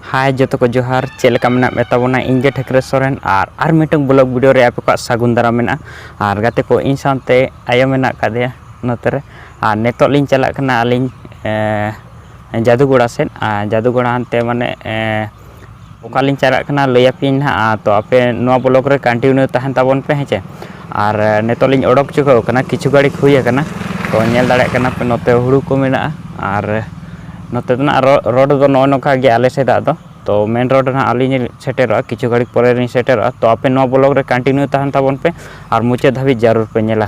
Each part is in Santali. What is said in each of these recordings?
ᱦᱟᱭ ᱡᱚᱛᱚ ᱠᱚ ᱡᱚᱦᱟᱨ ᱪᱮᱫ ᱞᱮᱠᱟ ᱢᱮᱱᱟᱜ ᱢᱮ ᱛᱟᱵᱚᱱᱟ ᱤᱧ ᱜᱮ ᱴᱷᱟᱹᱠᱨᱟᱹ ᱥᱚᱨᱮᱱ ᱟᱨ ᱟᱨ ᱢᱤᱫᱴᱟᱝ ᱵᱞᱚᱜ ᱵᱷᱤᱰᱤᱭᱳ ᱨᱮ ᱟᱯᱮ ᱠᱚᱣᱟᱜ ᱥᱟᱹᱜᱩᱱ ᱫᱟᱨᱟᱢ ᱢᱮᱱᱟᱜᱼᱟ ᱟᱨ ᱜᱟᱛᱮ ᱠᱚ ᱤᱧ ᱥᱟᱶᱛᱮ ᱟᱭᱳ ᱢᱮᱱᱟᱜ ᱟᱠᱟᱫᱮᱭᱟ ᱱᱚᱛᱮ ᱨᱮ ᱟᱨ ᱱᱤᱛᱚᱜ ᱞᱤᱧ ᱪᱟᱞᱟᱜ ᱠᱟᱱᱟ ᱟᱹᱞᱤᱧ ᱡᱟᱹᱫᱩᱜᱚᱲᱟ ᱥᱮᱫ ᱟᱨ ᱡᱟᱹᱫᱩᱜᱚᱲᱟ ᱦᱟᱱᱛᱮ ᱢᱟᱱᱮ ᱚᱠᱟᱞᱤᱧ ᱪᱟᱞᱟᱜ ᱠᱟᱱᱟ ᱞᱟᱹᱭ ᱟᱯᱮᱭᱟᱹᱧ ᱱᱟᱦᱟᱜ ᱛᱚ ᱟᱯᱮ ᱱᱚᱣᱟ ᱵᱞᱚᱠ ᱨᱮ ᱠᱚᱱᱴᱤᱱᱤᱭᱩ ᱛᱟᱦᱮᱱ ᱛᱟᱵᱚᱱ ᱯᱮ ᱦᱮᱸ ᱪᱮ ᱟᱨ ᱱᱤᱛᱚᱜ ᱞᱤᱧ ᱚᱰᱚᱠ ᱪᱩᱠᱟᱹᱣ ᱠᱟᱱᱟ ᱠᱤᱪᱷᱩ ᱜᱷᱟᱹᱲᱤᱡ ᱦᱩᱭ ᱟᱠᱟᱱᱟ ᱛᱚ ᱧᱮᱞ ᱫᱟᱲᱮᱭᱟᱜ ᱠᱟᱱᱟ ᱯᱮ ᱱᱚᱛᱮ ᱦᱩᱲᱩ ᱠᱚ ᱢᱮᱱᱟᱜᱼᱟ ᱟᱨ ᱱᱚᱛᱮ ᱫᱚ ᱱᱟᱦᱟᱜ ᱨᱳᱰ ᱫᱚ ᱱᱚᱜᱼᱚ ᱱᱚᱝᱠᱟ ᱜᱮᱭᱟ ᱟᱞᱮ ᱥᱮᱫᱟᱜ ᱫᱚ ᱛᱚ ᱢᱮᱱ ᱨᱳᱰ ᱱᱟᱦᱟᱜ ᱟᱹᱞᱤᱧ ᱞᱤᱧ ᱥᱮᱴᱮᱨᱚᱜᱼᱟ ᱠᱤᱪᱷᱩ ᱜᱷᱟᱹᱲᱤᱡ ᱯᱚᱨᱮ ᱞᱤᱧ ᱥᱮᱴᱮᱨᱚᱜᱼᱟ ᱛᱚ ᱟᱯᱮ ᱱᱚᱣᱟ ᱵᱞᱚᱠ ᱨᱮ ᱠᱚᱱᱴᱤᱱᱤᱭᱩ ᱛᱟᱦᱮᱱ ᱛᱟᱵᱚᱱ ᱯᱮ ᱟᱨ ᱢᱩᱪᱟᱹᱫ ᱫᱷᱟᱹᱵᱤᱡ ᱡᱟᱹᱨᱩᱲ ᱯᱮ ᱧᱮᱞᱟ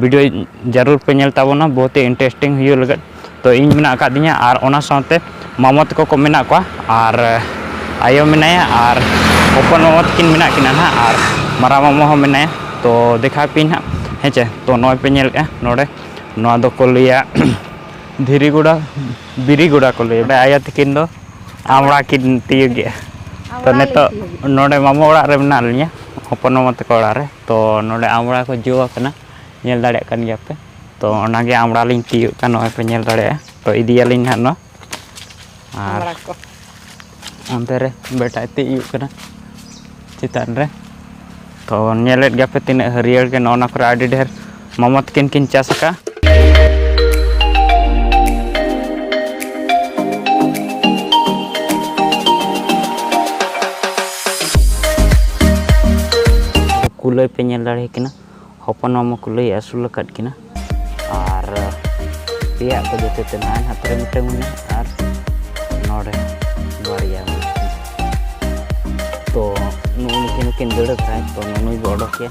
ᱵᱷᱤᱰᱤᱭᱳ ᱡᱟᱹᱨᱩᱲ ᱯᱮ ᱧᱮᱞ ᱛᱟᱵᱚᱱᱟ ᱵᱚᱦᱩᱛ ᱤᱱᱴᱟᱨᱮᱥᱴᱤᱝ ᱦᱩᱭᱩᱜ ᱞᱟᱹᱜᱤᱫ ᱛᱚ ᱤᱧ ᱢᱮᱱᱟᱜ ᱟᱠᱟᱫ ᱫᱤᱧᱟ ᱟᱨ ᱚᱱᱟ ᱥᱟᱶᱛᱮ ᱢᱟᱢᱚ ᱛᱟᱠᱚ ᱠᱚ ᱢᱮᱱᱟᱜ ᱠᱚᱣᱟ ᱟᱨ ᱟᱭᱳ ᱢᱮᱱᱟᱭᱟ ᱟᱨ ᱦᱚᱯᱚᱱ ᱢᱟᱢᱚ ᱛᱟᱹᱠᱤᱱ ᱢᱮᱱᱟᱜ ᱠᱤᱱᱟ ᱱᱟᱜ ᱟᱨ ᱢᱟᱨᱟᱝ ᱢᱟᱢᱚ ᱦᱚᱸ ᱢᱮᱱᱟᱭᱟ ᱛᱚ ᱫᱮᱠᱷᱟᱣ ᱯᱮᱭᱟᱹᱧ ᱱᱟᱜ ᱦᱮᱸ ᱪᱮ ᱛᱚ ᱱᱚᱜᱼᱚᱭ ᱯᱮ ᱧᱮᱞᱮᱫᱼᱟ ᱱᱚᱰᱮ ᱱᱚᱣᱟ ᱫᱚᱠᱚ ᱞᱟᱹᱭᱟ ᱫᱷᱤᱨᱤ ᱜᱚᱰᱟ ᱵᱤᱨᱤ ᱜᱚᱰᱟ ᱠᱚ ᱞᱟᱹᱭᱟ ᱚᱸᱰᱮ ᱟᱭᱳ ᱛᱟᱹᱠᱤᱱ ᱫᱚ ᱟᱢᱲᱟ ᱠᱤᱱ ᱛᱤᱭᱳᱜᱮᱜᱼᱟ ᱛᱚ ᱱᱤᱛᱚᱜ ᱱᱚᱰᱮ ᱢᱟᱢᱚ ᱚᱲᱟᱜ ᱨᱮ ᱢᱮᱱᱟᱜ ᱞᱤᱧᱟᱹ ᱦᱚᱯᱚᱱ ᱢᱟᱢᱚ ᱛᱟᱠᱚ ᱚᱲᱟᱜ ᱨᱮ ᱛᱚ ᱱᱚᱰᱮ ᱟᱢᱲᱟ ᱠᱚ ᱡᱚ ᱟᱠᱟᱱᱟ ᱧᱮᱞ ᱫᱟᱲᱮᱭᱟᱜ ᱠᱟᱱ ᱜᱮᱭᱟ ᱯᱮ ᱛᱚ ᱚᱱᱟᱜᱮ ᱟᱢᱲᱟ ᱞᱤᱧ ᱛᱤᱭᱳᱜ ᱠᱟᱱ ᱱᱚᱜᱼᱚᱭ ᱯᱮ ᱧᱮᱞ ᱫᱟᱲᱮᱭᱟᱜᱼᱟ ᱛᱚ ᱤᱫᱤᱭᱟᱞᱤᱧ ᱦᱟᱸᱜ ᱱᱚᱣᱟ ᱟᱨ ᱟᱢᱲᱟ ᱠᱚ ᱚᱱᱛᱮ ᱨᱮ ᱵᱮᱴᱟᱭ ᱛᱤᱭᱳᱜ ᱠᱟᱱᱟ ᱪᱮᱛᱟᱱ ᱨᱮ ᱛᱚ ᱧᱮᱞᱮᱫ ᱜᱮᱭᱟᱯᱮ ᱛᱤᱱᱟᱹᱜ ᱦᱟᱹᱨᱭᱟᱹᱲ ᱜᱮ ᱱᱚᱜᱼᱚ ᱱᱟ ᱠᱚᱨᱮ ᱟᱹᱰᱤ ᱰᱷᱮᱨ ᱢᱟᱢᱟ ᱛᱟᱹᱠᱤᱱ ᱠᱤᱱ ᱪᱟᱥ ᱟᱠᱟᱫᱼᱟ ᱠᱩᱞᱟᱹᱭ ᱯᱮ ᱧᱮᱞ ᱫᱟᱲᱮ ᱠᱤᱱᱟ ᱦᱚᱯᱚᱱ ᱢᱟᱢᱟ ᱠᱩᱞᱟᱹᱭ ᱟᱹᱥᱩᱞ ᱟᱠᱟᱫ ᱠᱤᱱᱟ ᱟᱨ ᱯᱮᱭᱟ ᱠᱚ ᱡᱚᱛᱚ ᱛᱮ ᱱᱟᱭ ᱦᱟᱛᱨᱮ ᱢᱤᱫᱴᱟᱝ ᱢᱮᱱᱟᱜᱼᱟ ᱟᱨ ᱱᱚᱰᱮ ᱵᱟᱨᱭᱟ ᱢᱮᱱᱟᱜᱼᱟ ᱛᱚ ᱱᱩᱜᱼᱩ ᱱᱩᱠᱤᱱ ᱦᱚᱸᱠᱤᱱ ᱫᱟᱹᱲ ᱟᱠᱟᱫ ᱛᱚ ᱱᱩᱭ ᱵᱚ ᱚᱰᱚᱠᱮᱭᱟ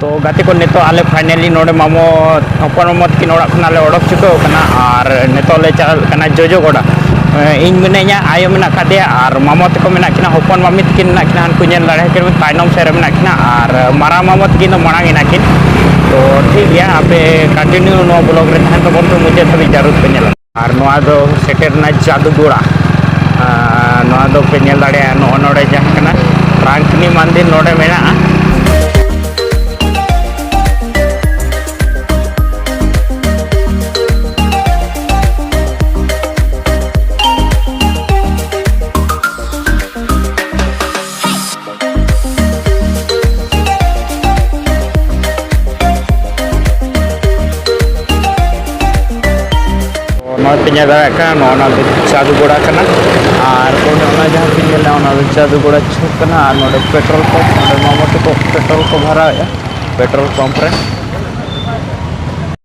ᱛᱚ ᱜᱟᱛᱮ ᱠᱚ ᱱᱤᱛᱚᱜ ᱟᱞᱮ ᱯᱷᱟᱭᱱᱟᱞᱤ ᱱᱚᱰᱮ ᱢᱟᱢᱚ ᱦᱚᱯᱚᱱ ᱢᱟᱢᱚ ᱛᱟᱹᱠᱤᱱ ᱚᱲᱟᱜ ᱠᱷᱚᱱᱟᱜ ᱞᱮ ᱚᱰᱚᱠ ᱪᱩᱠᱟᱹᱣ ᱠᱟᱱᱟ ᱟᱨ ᱱᱤᱛᱚᱜ ᱞᱮ ᱪᱟᱞᱟᱜ ᱠᱟᱱᱟ ᱡᱚᱡᱚ ᱜᱚᱰᱟ ᱤᱧ ᱢᱤᱱᱟᱹᱧᱟ ᱟᱭᱳ ᱢᱮᱱᱟᱜ ᱠᱟᱫᱮᱭᱟ ᱟᱨ ᱢᱟᱢᱚ ᱛᱟᱠᱚ ᱢᱮᱱᱟᱜ ᱠᱤᱱᱟ ᱦᱚᱯᱚᱱ ᱢᱟᱢᱤ ᱛᱟᱹᱠᱤᱱ ᱢᱮᱱᱟᱜ ᱠᱤᱱᱟ ᱦᱟᱱᱠᱩ ᱧᱮᱞ ᱫᱟᱲᱮ ᱠᱤᱱᱟ ᱛᱟᱭᱱᱚᱢ ᱥᱮᱫ ᱨᱮ ᱢᱮᱱᱟᱜ ᱠᱤᱱᱟ ᱟᱨ ᱢᱟᱨᱟᱝ ᱢᱟᱢᱚ ᱛᱟᱹᱠᱤᱱ ᱫᱚ ᱢᱟᱲᱟᱝ ᱮᱱᱟ ᱠᱤᱱ ᱛᱚ ᱴᱷᱤᱠ ᱜᱮᱭᱟ ᱟᱯᱮ ᱠᱚᱱᱴᱤᱱᱤᱭᱩ ᱱᱚᱣᱟ ᱵᱞᱚᱜ ᱨᱮ ᱛᱟᱦᱮᱱ ᱛᱟᱵᱚᱱ ᱯᱮ ᱢᱩᱪᱟᱹᱫ ᱫᱷᱟᱹᱵᱤᱡ ᱡᱟᱹᱨᱩᱲ ᱯᱮ ᱧᱮᱞᱟ ᱟᱨ ᱱᱚᱣᱟ ᱫᱚ ᱥᱮᱴᱮᱨᱱᱟ ᱡᱟᱫᱩᱜᱳᱲᱟ ᱱᱚᱣᱟ ᱫᱚ ᱯᱮ ᱧᱮᱞ ᱫᱟᱲᱮᱭᱟᱜᱼᱟ ᱱᱚᱜᱼᱚ ᱱᱚᱰᱮ ᱡᱟᱦᱟᱸ ᱠᱟᱱᱟ ᱨᱟᱝᱠᱤᱱᱤ ᱢᱟᱱᱫᱤᱨ ᱱᱚᱰᱮ ᱢᱮᱱᱟᱜᱼᱟ ᱱᱚᱣᱟ ᱯᱮ ᱧᱮᱞ ᱫᱟᱲᱮᱭᱟᱜ ᱠᱟᱱᱟ ᱱᱚᱣᱟ ᱱᱚᱣᱟ ᱫᱚ ᱪᱟᱸᱫᱩ ᱜᱚᱲᱟ ᱠᱟᱱᱟ ᱟᱨ ᱚᱱᱮ ᱚᱱᱟ ᱡᱟᱦᱟᱸ ᱯᱮ ᱧᱮᱞ ᱫᱟ ᱚᱱᱟ ᱫᱚ ᱪᱟᱸᱫᱩ ᱜᱚᱲᱟ ᱪᱷᱩᱠ ᱠᱟᱱᱟ ᱟᱨ ᱱᱚᱰᱮ ᱯᱮᱴᱨᱳᱞ ᱯᱟᱢᱯ ᱱᱚᱰᱮ ᱢᱟᱢᱚ ᱛᱟᱠᱚ ᱯᱮᱴᱨᱳᱞ ᱠᱚ ᱵᱷᱚᱨᱟᱣᱮᱫᱼᱟ ᱯᱮᱴᱨᱳᱞ ᱯᱟᱢᱯ ᱨᱮ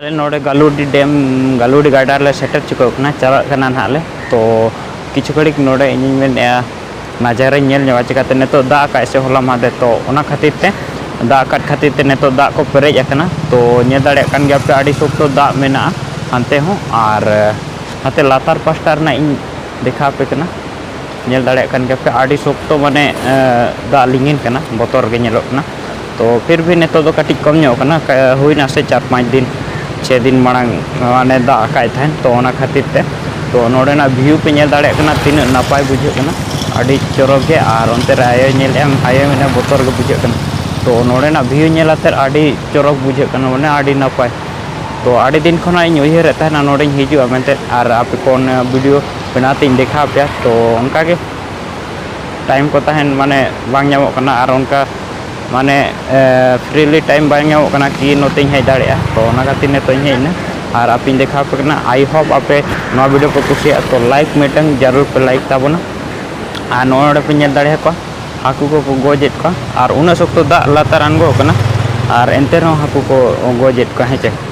ᱟᱞᱮ ᱱᱚᱰᱮ ᱜᱟᱞᱩᱰᱤ ᱰᱮᱢ ᱜᱟᱞᱩᱰᱤ ᱜᱟᱰᱟ ᱨᱮᱞᱮ ᱥᱮᱴᱮᱨ ᱪᱩᱠᱟᱹᱣ ᱠᱟᱱᱟ ᱪᱟᱞᱟᱜ ᱠᱟᱱᱟ ᱱᱟᱦᱟᱜ ᱞᱮ ᱛᱚ ᱠᱤᱪᱷᱩ ᱜᱷᱟᱹᱲᱤᱡ ᱱᱚᱰᱮ ᱤᱧᱤᱧ ᱢᱮᱱᱮᱫᱼᱟ ᱱᱟᱡᱟᱨᱟᱧ ᱧᱮᱞ ᱧᱚᱜᱟ ᱪᱤᱠᱟᱹᱛᱮ ᱱᱤᱛᱚᱜ ᱫᱟᱜ ᱟᱠᱟᱫ ᱥᱮ ᱦᱚᱞᱟ ᱢᱟᱦᱫᱮᱨ ᱛᱚ ᱚᱱᱟ ᱠᱷᱟᱹᱛᱤᱨ ᱛᱮ ᱫᱟᱜ ᱟᱠᱟᱫ ᱠᱷᱟᱹᱛᱤᱨ ᱛᱮ ᱱᱤᱛᱚᱜ ᱫᱟᱜ ᱠᱚ ᱯᱮᱨᱮᱡ ᱟᱠᱟᱱᱟ ᱛᱚ ᱧᱮᱞ ᱫᱟᱲᱮᱭᱟᱜ ᱠᱟᱱ ᱜᱮᱭᱟᱯᱮ ᱟᱹᱰᱤ ᱥᱚᱠᱛᱚ ᱫᱟᱜ ᱢᱮᱱᱟᱜᱼᱟ ᱦᱟᱱᱛᱮ ᱦᱚᱸ ᱟᱨ ᱦᱟᱱᱛᱮ ᱞᱟᱛᱟᱨ ᱯᱟᱥᱴᱟ ᱨᱮᱱᱟᱜ ᱤᱧ ᱫᱮᱠᱷᱟᱣ ᱟᱯᱮ ᱠᱟᱱᱟ ᱧᱮᱞ ᱫᱟᱲᱮᱭᱟᱜ ᱠᱟᱱ ᱜᱮᱭᱟᱯᱮ ᱟᱹᱰᱤ ᱥᱚᱠᱛᱚ ᱢᱟᱱᱮ ᱫᱟᱜ ᱞᱤᱸᱜᱤᱱ ᱠᱟᱱᱟ ᱵᱚᱛᱚᱨ ᱜᱮ ᱧᱮᱞᱚᱜ ᱠᱟᱱᱟ ᱛᱚ ᱯᱷᱤᱨ ᱵᱷᱤ ᱱᱤᱛᱚᱜ ᱫᱚ ᱠᱟᱹᱴᱤᱡ ᱠᱚᱢ ᱧᱚᱜ ᱠᱟᱱᱟ ᱦᱩᱭᱱᱟ ᱥᱮ ᱪᱟᱨ ᱯᱟᱸᱪ ᱫᱤᱱ ᱪᱷᱮ ᱫᱤᱱ ᱢᱟᱲᱟᱝ ᱢᱟᱱᱮ ᱫᱟᱜ ᱟᱠᱟᱫ ᱛᱟᱦᱮᱱ ᱛᱚ ᱚᱱᱟ ᱠᱷᱟᱹᱛᱤᱨ ᱛᱮ ᱛᱚ ᱱᱚᱰᱮᱱᱟᱜ ᱵᱷᱤᱭᱩ ᱯᱮ ᱧᱮᱞ ᱫᱟᱲᱮᱭᱟᱜ ᱠᱟᱱᱟ ᱛᱤᱱᱟᱹᱜ ᱱᱟᱯᱟᱭ ᱵᱩᱡᱷᱟᱹᱜ ᱠᱟᱱᱟ ᱟᱹᱰᱤ ᱪᱚᱨᱚᱠ ᱜᱮ ᱟᱨ ᱚᱱᱛᱮ ᱨᱮ ᱟᱭᱳᱭ ᱧᱮᱞᱮᱫᱼᱟ ᱟᱭᱳᱭ ᱢᱮᱱᱮᱫᱼᱟ ᱵᱚᱛᱚᱨ ᱜᱮ ᱵᱩᱡᱷᱟᱹᱜ ᱠᱟᱱᱟ ᱛᱚ ᱱᱚᱰᱮᱱᱟᱜ ᱵᱷᱤᱭᱩ ᱧᱮᱞ ᱠᱟᱛᱮᱫ ᱟᱹᱰᱤ ᱪᱚᱨᱚᱠ ᱵᱩᱡᱷᱟᱹᱜ ᱠᱟᱱᱟ ᱢᱟᱱᱮ ᱟᱹᱰᱤ ᱱᱟᱯᱟᱭ ᱛᱚ ᱟᱹᱰᱤ ᱫᱤᱱ ᱠᱷᱚᱱᱟᱜ ᱤᱧ ᱩᱭᱦᱟᱹᱨᱮᱫ ᱛᱟᱦᱮᱱᱟ ᱱᱚᱰᱮᱧ ᱦᱤᱡᱩᱜᱼᱟ ᱢᱮᱱᱛᱮ ᱟᱨ ᱟᱯᱮ ᱠᱚ ᱚᱱᱟ ᱵᱷᱤᱰᱤᱭᱳ ᱵᱮᱱᱟᱣ ᱛᱤᱧ ᱫᱮᱠᱷᱟᱣ ᱯᱮᱭᱟ ᱛᱚ ᱚᱱᱠᱟᱜᱮ ᱴᱟᱭᱤᱢ ᱠᱚ ᱛᱟᱦᱮᱱ ᱢᱟᱱᱮ ᱵᱟᱝ ᱧᱟᱢᱚᱜ ᱠᱟᱱᱟ ᱟᱨ ᱚᱱᱠᱟ ᱢᱟᱱᱮ ᱯᱷᱨᱤᱞᱤ ᱴᱟᱭᱤᱢ ᱵᱟᱝ ᱧᱟᱢᱚᱜ ᱠᱟᱱᱟ ᱠᱤ ᱱᱚᱛᱮᱧ ᱦᱮᱡ ᱫᱟᱲᱮᱭᱟᱜᱼᱟ ᱛᱚ ᱚᱱᱟ ᱠᱷᱟᱹᱛᱤᱨ ᱱᱤᱛᱚᱜ ᱤᱧ ᱦᱮᱡ ᱮᱱᱟ ᱟᱨ ᱟᱯᱮᱧ ᱫᱮᱠᱷᱟᱣ ᱟᱯᱮ ᱠᱟᱱᱟ ᱟᱭ ᱦᱳᱯ ᱟᱯᱮ ᱱᱚᱣᱟ ᱵᱷᱤᱰᱤᱭᱳ ᱯᱮ ᱠᱩᱥᱤᱭᱟᱜᱼᱟ ᱛᱚ ᱞᱟᱭᱤᱠ ᱢᱤᱫᱴᱟᱝ ᱡᱟᱹᱨᱩᱲ ᱯᱮ ᱞᱟᱭᱤᱠ ᱛᱟᱵᱚᱱᱟ ᱟᱨ ᱱᱚᱜᱼᱚᱭ ᱱᱚᱰᱮ ᱯᱮ ᱧᱮᱞ ᱫᱟᱲᱮᱭᱟ ᱠᱚᱣᱟ ᱦᱟᱹᱠᱩ ᱠᱚᱠᱚ ᱜᱚᱡᱮᱫ ᱠᱚᱣᱟ ᱟᱨ ᱩᱱᱟᱹᱜ ᱥᱚᱠᱛᱚ ᱫᱟᱜ ᱞᱟᱛᱟᱨ ᱟᱬᱜᱚ ᱠᱟᱱᱟ ᱟᱨ ᱮᱱᱛᱮ ᱨᱮᱦᱚᱸ ᱦᱟᱹᱠᱩ ᱠᱚ ᱜᱚᱡᱮᱫ ᱠᱚᱣᱟ ᱦᱮᱸ ᱪᱮ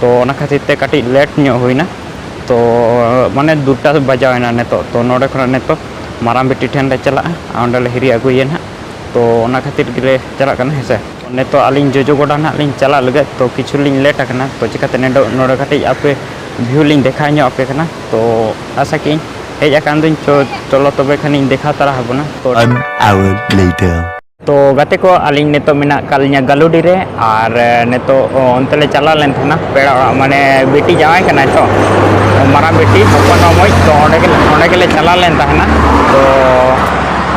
ᱛᱚ ᱚᱱᱟ ᱠᱷᱟᱹᱛᱤᱨ ᱛᱮ ᱠᱟᱹᱴᱤᱡ ᱞᱮᱴ ᱧᱚᱜ ᱦᱩᱭᱱᱟ ᱛᱚ ᱢᱟᱱᱮ ᱫᱩᱴᱟ ᱵᱟᱡᱟᱣᱮᱱᱟ ᱱᱤᱛᱚᱜ ᱛᱚ ᱱᱚᱰᱮ ᱠᱷᱚᱱᱟᱜ ᱱᱤᱛᱚᱜ ᱢᱟᱨᱟᱝ ᱵᱤᱴᱤ ᱴᱷᱮᱱ ᱞᱮ ᱪᱟᱞᱟᱜᱼᱟ ᱟᱨ ᱚᱸᱰᱮ ᱞᱮ ᱦᱤᱨᱤ ᱟᱹᱜᱩᱭᱮᱭᱟ ᱱᱟᱦᱟᱜ ᱛᱚ ᱚᱱᱟ ᱠᱷᱟᱹᱛᱤᱨ ᱜᱮᱞᱮ ᱪᱟᱞᱟᱜ ᱠᱟᱱᱟ ᱦᱮᱸ ᱥᱮ ᱱᱤᱛᱚᱜ ᱟᱹᱞᱤᱧ ᱡᱚᱡᱚ ᱜᱚᱰᱟ ᱱᱟᱦᱟᱜ ᱞᱤᱧ ᱪᱟᱞᱟᱜ ᱞᱟᱹᱜᱤᱫ ᱛᱚ ᱠᱤᱪᱷᱩ ᱞᱤᱧ ᱞᱮᱴ ᱟᱠᱟᱱᱟ ᱛᱚ ᱪᱤᱠᱟᱹᱛᱮ ᱱᱚᱰᱮ ᱱᱚᱰᱮ ᱠᱟᱹᱴᱤᱡ ᱟᱯᱮ ᱵᱷᱤᱭᱩ ᱞᱤᱧ ᱫᱮᱠᱷᱟᱣ ᱧᱚᱜ ᱟᱯᱮ ᱠᱟᱱᱟ ᱛᱚ ᱟᱥᱟ ᱠᱮᱜ ᱟᱹᱧ ᱦᱮᱡ ᱟᱠᱟᱱ ᱫᱚᱧ ᱪᱚ ᱪᱚᱞᱚ ᱛᱚᱵᱮ ᱠᱷᱟᱱᱤᱧ ᱫᱮᱠᱷᱟᱣ ᱛᱟᱨᱟ ᱟᱵᱚᱱᱟ ᱛᱚ One hour later. ᱛᱚ ᱜᱟᱛᱮ ᱠᱚ ᱟᱹᱞᱤᱧ ᱱᱤᱛᱚᱜ ᱢᱮᱱᱟᱜ ᱟᱠᱟᱫ ᱞᱤᱧᱟ ᱜᱟᱞᱩᱰᱤ ᱨᱮ ᱟᱨ ᱱᱤᱛᱚᱜ ᱚᱱᱛᱮ ᱞᱮ ᱪᱟᱞᱟᱣ ᱞᱮᱱ ᱛᱟᱦᱮᱱᱟ ᱯᱮᱲᱟ ᱚᱲᱟᱜ ᱢᱟᱱᱮ ᱵᱤᱴᱤ ᱡᱟᱶᱟᱭ ᱠᱟᱱᱟᱭ ᱛᱚ ᱢᱟᱨᱟᱝ ᱵᱤᱴᱤ ᱦᱚᱯᱚᱱ ᱢᱟᱢᱚᱭ ᱛᱚ ᱚᱸᱰᱮ ᱜᱮ ᱚᱸᱰᱮ ᱜᱮᱞᱮ ᱪᱟᱞᱟᱣ ᱞᱮᱱ ᱛᱟᱦᱮᱱᱟ ᱛᱚ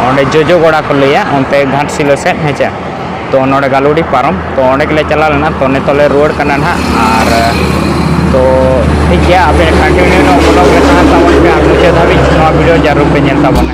ᱚᱸᱰᱮ ᱡᱚᱡᱚ ᱜᱚᱲᱟ ᱠᱚ ᱞᱟᱹᱭᱟ ᱚᱱᱛᱮ ᱜᱷᱟᱴᱥᱤᱞᱟᱹ ᱥᱮᱫ ᱦᱮᱸᱪᱮ ᱛᱚ ᱱᱚᱰᱮ ᱜᱟᱞᱩᱰᱤ ᱯᱟᱨᱚᱢ ᱛᱚ ᱚᱸᱰᱮ ᱜᱮᱞᱮ ᱪᱟᱞᱟᱣ ᱞᱮᱱᱟ ᱛᱚ ᱱᱤᱛᱚᱜ ᱞᱮ ᱨᱩᱣᱟᱹᱲ ᱠᱟᱱᱟ ᱱᱟᱦᱟᱜ ᱟᱨ ᱛᱚ ᱴᱷᱤᱠ ᱜᱮᱭᱟ ᱟᱯᱮ ᱠᱚᱱᱴᱤᱱᱤᱭᱩ ᱱᱚᱣᱟ ᱵᱞᱚᱜ ᱨᱮ ᱛᱟᱦᱮᱱ ᱛᱟᱵᱚᱱ ᱯᱮ ᱟᱨ ᱢᱩᱪᱟᱹᱫ ᱫᱷᱟᱹᱵᱤᱡ ᱱᱚᱣᱟ ᱵᱷᱤᱰᱤᱭᱳ ᱡᱟᱹᱨᱩᱲ ᱯᱮ ᱧᱮᱞ ᱛᱟᱵᱚᱱᱟ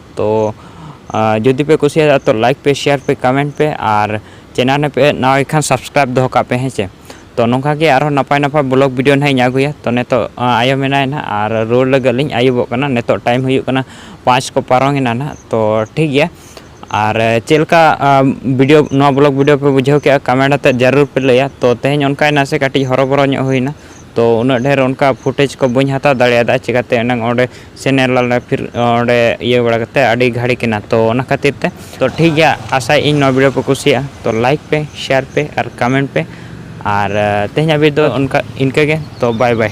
ᱛᱚ ᱡᱩᱫᱤ ᱯᱮ ᱠᱩᱥᱤᱭᱟᱫᱟ ᱛᱚ ᱞᱟᱭᱤᱠ ᱯᱮ ᱥᱮᱭᱟᱨ ᱯᱮ ᱠᱟᱢᱮᱱᱴ ᱯᱮ ᱟᱨ ᱪᱮᱱᱮᱞ ᱯᱮ ᱱᱟᱣᱟᱭ ᱠᱷᱟᱱ ᱥᱟᱵᱥᱠᱨᱟᱭᱤᱵ ᱫᱚᱦᱚ ᱠᱟᱜ ᱯᱮ ᱦᱮᱸ ᱪᱮ ᱛᱚ ᱱᱚᱝᱠᱟ ᱜᱮ ᱟᱨᱦᱚᱸ ᱱᱟᱯᱟᱭ ᱱᱟᱯᱟᱭ ᱵᱞᱚᱜ ᱵᱷᱤᱰᱤᱭᱳ ᱱᱟᱦᱟᱜ ᱤᱧ ᱟᱹᱜᱩᱭᱟ ᱛᱚ ᱱᱤᱛᱚᱜ ᱟᱭᱳ ᱢᱮᱱᱟᱭᱟ ᱱᱟᱦᱟᱜ ᱟᱨ ᱨᱩᱣᱟᱹᱲ ᱞᱟᱹᱜᱤᱫ ᱞᱤᱧ ᱟᱹᱭᱩᱵᱚᱜ ᱠᱟᱱᱟ ᱱᱤᱛᱚᱜ ᱴᱟᱭᱤᱢ ᱦᱩᱭᱩᱜ ᱠᱟᱱᱟ ᱯᱟᱸᱪ ᱠᱚ ᱯᱟᱨᱚᱢ ᱮᱱᱟ ᱱᱟᱦᱟᱜ ᱛᱚ ᱴᱷᱤᱠ ᱜᱮᱭᱟ ᱟᱨ ᱪᱮᱫ ᱞᱮᱠᱟ ᱵᱷᱤᱰᱤᱭᱳ ᱱᱚᱣᱟ ᱵᱞᱚᱜ ᱵᱷᱤᱰᱤᱭᱳ ᱯᱮ ᱵᱩᱡᱷᱟᱹᱣ ᱠᱮᱜᱼᱟ ᱠᱟᱢᱮᱱᱴ ᱟᱛᱮᱫ ᱡᱟᱹᱨᱩᱲ ᱯᱮ ᱞᱟᱹᱭᱟ ᱛᱚ ᱛᱮᱦᱮᱧ ᱚᱱᱠᱟ ᱱᱟᱥᱮ ᱠᱟᱹᱴᱤᱡ ᱦᱚᱨᱚᱵᱚᱨᱚ ᱧᱚᱜ ᱦᱩᱭᱱᱟ ᱛᱚ ᱩᱱᱟᱹᱜ ᱰᱷᱮᱨ ᱚᱱᱠᱟ ᱯᱷᱩᱴᱮᱡᱽ ᱠᱚ ᱵᱟᱹᱧ ᱦᱟᱛᱟᱣ ᱫᱟᱲᱮᱭᱟᱫᱟ ᱪᱤᱠᱟᱹᱛᱮ ᱮᱱᱟᱝ ᱚᱸᱰᱮ ᱥᱮᱱᱮᱨ ᱞᱮᱱᱟ ᱯᱷᱤᱨ ᱚᱸᱰᱮ ᱤᱭᱟᱹ ᱵᱟᱲᱟ ᱠᱟᱛᱮ ᱟᱹᱰᱤ ᱜᱷᱟᱹᱲᱤ ᱠᱟᱱᱟ ᱛᱚ ᱚᱱᱟ ᱠᱷᱟᱹᱛᱤᱨ ᱛᱮ ᱛᱚ ᱴᱷᱤᱠ ᱜᱮᱭᱟ ᱟᱥᱟᱭᱮᱫ ᱤᱧ ᱱᱚᱣᱟ ᱵᱷᱤᱰᱤᱭᱳ ᱯᱮ ᱠᱩᱥᱤᱭᱟᱜᱼᱟ ᱛᱚ ᱞᱟᱭᱤᱠ ᱯᱮ ᱥᱮᱭᱟᱨ ᱯᱮ ᱟᱨ ᱠᱚᱢᱮᱱᱴ ᱯᱮ ᱟᱨ ᱛᱮᱦᱮᱧᱟᱜ ᱵᱷᱤᱰᱤᱭᱳ ᱫᱚ ᱚᱱᱠᱟ ᱤᱱᱠᱟᱹ ᱜᱮ ᱛᱚ ᱵᱟᱭ ᱵᱟᱭ